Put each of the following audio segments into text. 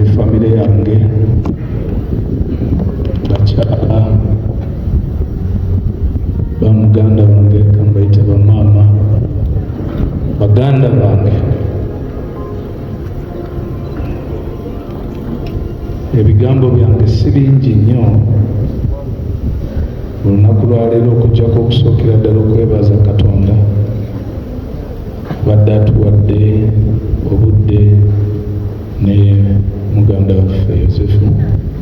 efamire yange bakyala bamuganda wange kambaite bamaama baganda bange ebigambo byange si bingi nnyo olunaku lwaleero okujjako okusookera ddala okwebaza katonda badde atuwadde obudde ne muganda waffe Yosefu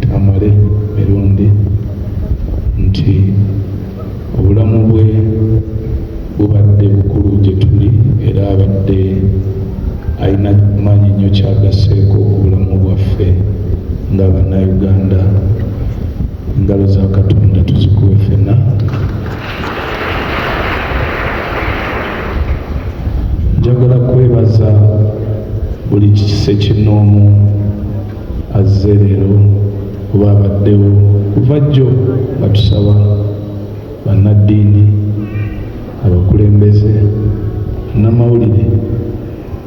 Tamale Mirundi nti obulamu bwe bubadde bukulu gye tuli era abadde alina maanyi nnyo kyagasseeko ku bulamu bwaffe nga Bannayuganda. Engalo za Katonda tuzikuwe ffenna. njagala kwebaza buli kikise kinoomu azze leero oba abaddewo kuva jjo nga tusaba bannaddiini abakulembeze namawulire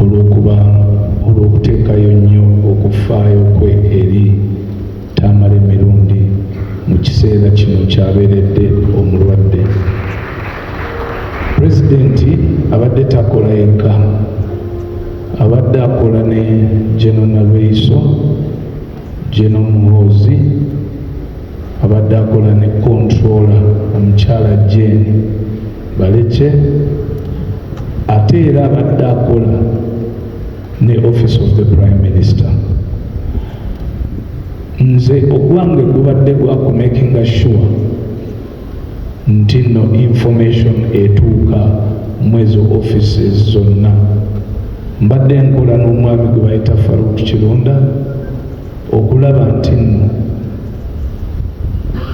olw'okuba olw'okuteekayo nnyo okufaayo kwe eri Tamale Mirundi mu kiseera kino kyabeeredde omulwadde. Pulezidenti abadde takola yekka, abadde akola ne General Nalweyiso, General Muhoozi, Abadde akola ne Controller omukyala Jane Balekye ate era abadde akola ne Office of the Prime Minister. Nze ogwange gubadde gwa ku making sure nti no information etuuka mwezo offices zonna mbadde nkola n'omwami gwe bayita Farouk Kirunda okulaba nti nno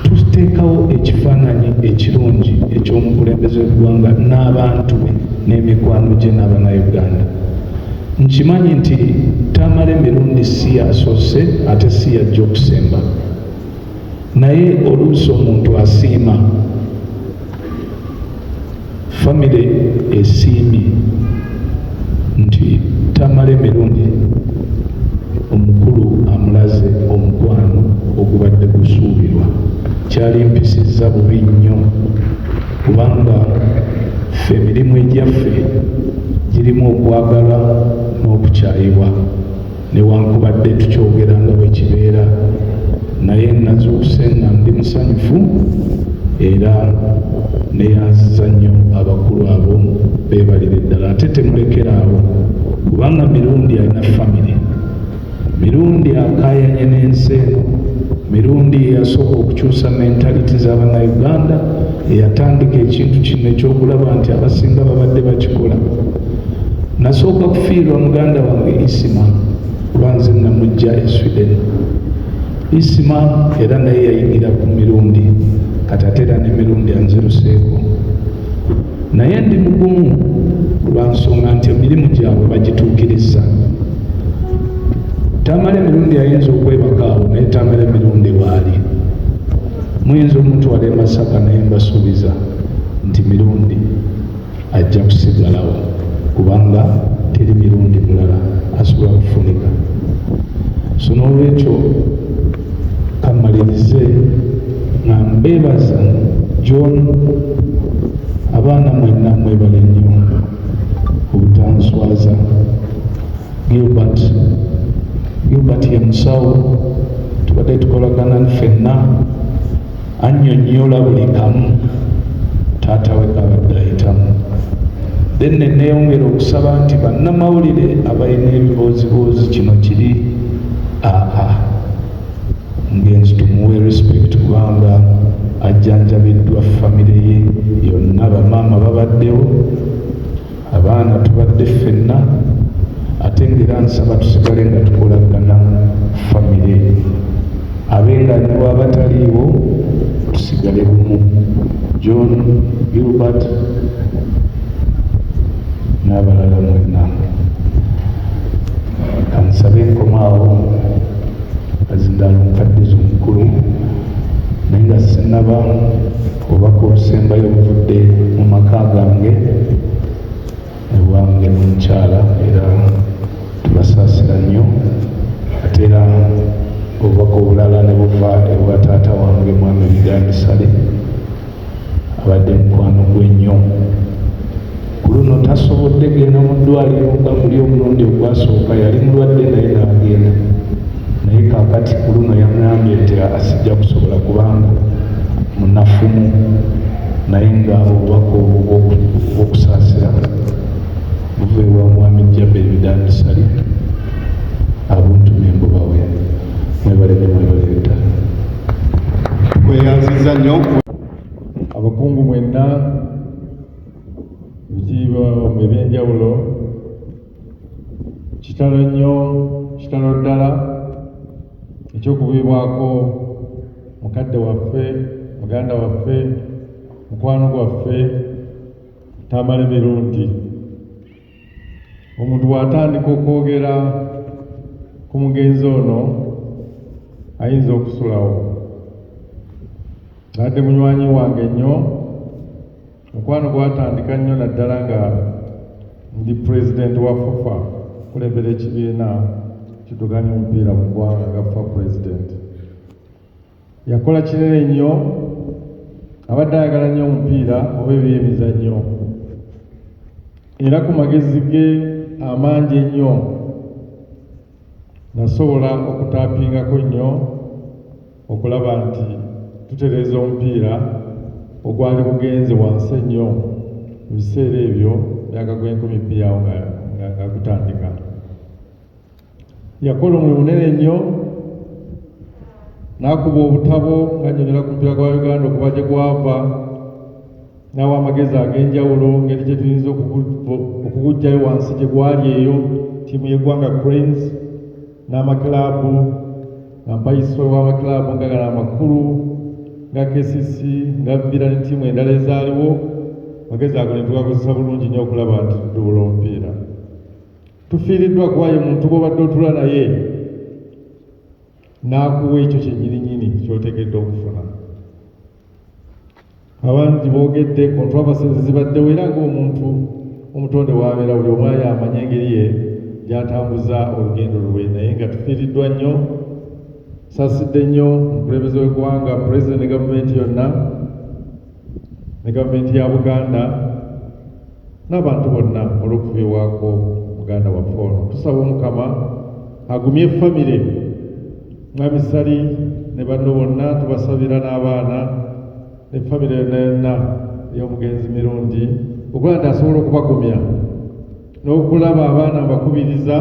tuteekawo ekifaananyi ekirungi eky'omukulembeze w'eggwanga n'abantu be n'emikwano gye n'abanauganda nkimanyi nti tamala emirundi si yasoose ate si yajja okusemba naye oluusi omuntu asiima Famire esiimye nti Tamale Mirundi omukulu amulaze omukwano ogubadde gusuubirwa kyalimpisizza bubi nnyo kubanga ffe emirimu egyaffe girimu okwagala n'okukyayibwa. newankubadde tukyogera nga bwe kibeera naye nazuuse nga ndi musanyufu era neyanziza nnyo abakulu abo beebalire ddala ate temulekera awo kubanga mirundi alina famire mirundi akayanye n'ensi eno mirundi yeyasooka okukyusa mentaliti z'abanauganda eyatandika ekintu kino ekyokulaba nti abasinga babadde bakikola Nasooka kufiirwa muganda wange Isima kuba nze namujja e Sweden. Isima era naye yayingira ku mirundi kati ate era n'emirundi anziruseeko, naye ndi mugumu lwa nsonga nti emirimu gyabwe bagituukiriza. Tamale emirundi ayinza okwebaka awo naye Tamale emirundi waali muyinza omutwala e Masaka naye mbasuubiza nti mirundi ajja kusigalawo kubanga teri mirundi mulala asobola kufunika so n'olwekyo kammalirize nga mbeebaza john abaana mwenna mwebale nnyo obutanswaza gilbert gilbert ye musawo tubadde tukolagana ffenna annyonnyola buli kamu taata we kabadde ayitamu then neneyongera okusaba nti bannamawulire abalina ebibooziboozi kino kiri aa ngenzi tumuwe respect kubanga ajjanjabiddwa famire ye yonna bamaama babaddewo abaana tubadde ffenna ate ngaera nsaba tusigale nga tukolagana famire abenganiwa abataliiwo tusigale bumu john gilbert n'abalala mwenna kansabe enkomaawo azindala omukadde zomukulu naye nga sinaba Obubaka obusembayo buvudde mu maka gange ne bwange n'omukyala era tubasaasira nnyo ate era obubaka obulala ne buva ewa taata wange mwami Bigambisale abadde mukwano gwe nnyo Ku luno tasobodde genda mu ddwaaliro nga muli omulundi ogwasooka yali mulwadde naye n'agenda naye kaakati ku luno yangambye nti asijja kusobola kubanga munafumu naye nga obubaka obwo bw'okusaasira buva ewa mwami jjabba ebidandisali abuntu nembubawe mwebale ne mwebale ddala tweyanziza nnyo abakungu mwenna Bitiibwa mu eby'enjawulo kitalo nnyo kitalo ddala ekyokubiibwako mukadde waffe muganda waffe mukwano gwaffe tamale mirundi omuntu bw'atandika okwogera ku mugenzi ono ayinza okusulawo nadde munywanyi wange nnyo Mukwano gwatandika nnyo naddala nga ndi pulezidenti wa FUFA kulembera ekibiina kituganya omupiira mu ggwanga nga FUFA pulezidenti. Yakola kinene nnyo, abadde ayagala nnyo omupiira oba ebyemizannyo era ku magezi ge amangi ennyo nasobola okutaapingako nnyo okulaba nti tutereeza omupiira ogwali gugenze wansi ennyo mu biseera ebyo myaka gw'enkumi bbiri awo nga gutandika yakola omulimu munene nnyo n'akuba obutabo ng'annyonyola ku mupiira gwa uganda okuba gye gwava n'awa amagezi ag'enjawulo ngeri gye tuyinza okuguggyayo wansi gye gwali eyo ttiimu y'eggwanga cranes n'amakilaabu Ampayisa ow'amakilaabu nga gano amakulu nga KCC nga Villa ne ttiimu endala ezaaliwo magezi ago ne tugakozesa bulungi nnyo okulaba nti tuduula omupiira. Tufiiriddwa kuba ye muntu gw'obadde otula naye n'akuwa ekyo kyennyininyini ky'otegedde okufuna. Abantu gibogedde controversy zibaddewo era ng'omuntu omutonde w'abeera buli omu ayo amanye engeri ye gyatambuza olugendo lulwe naye nga tufiiriddwa nnyo sasidde nnyo omukulembeze w'eggwanga pulezidenti ne gavumenti yonna ne gavumenti ya buganda n'abantu bonna olw'okufiibwako muganda waffe ono tusaba omukama agumye famire mwami sali ne banno bonna tubasabira n'abaana ne famire yonna yonna ey'omugenzi mirundi okuba nti asobola okubagumya n'okulaba abaana mbakubiriza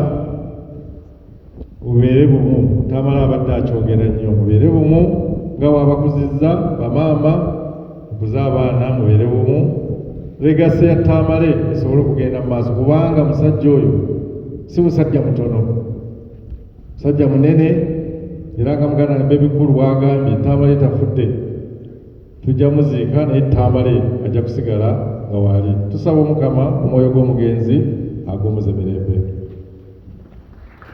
mubeere bumu tamala abadde akyogera nnyo mubeere bumu nga wabakuzizza bamaama mukuze abaana mubeere bumu legasi ya tamale esobole okugenda mu maaso kubanga musajja oyo si musajja mutono musajja munene era nga muganda ne bebikulu bwagambye tamale tafudde tujja muziika naye tamale ajja kusigala nga waali tusaba omukama omwoyo gw'omugenzi agumuze mirembe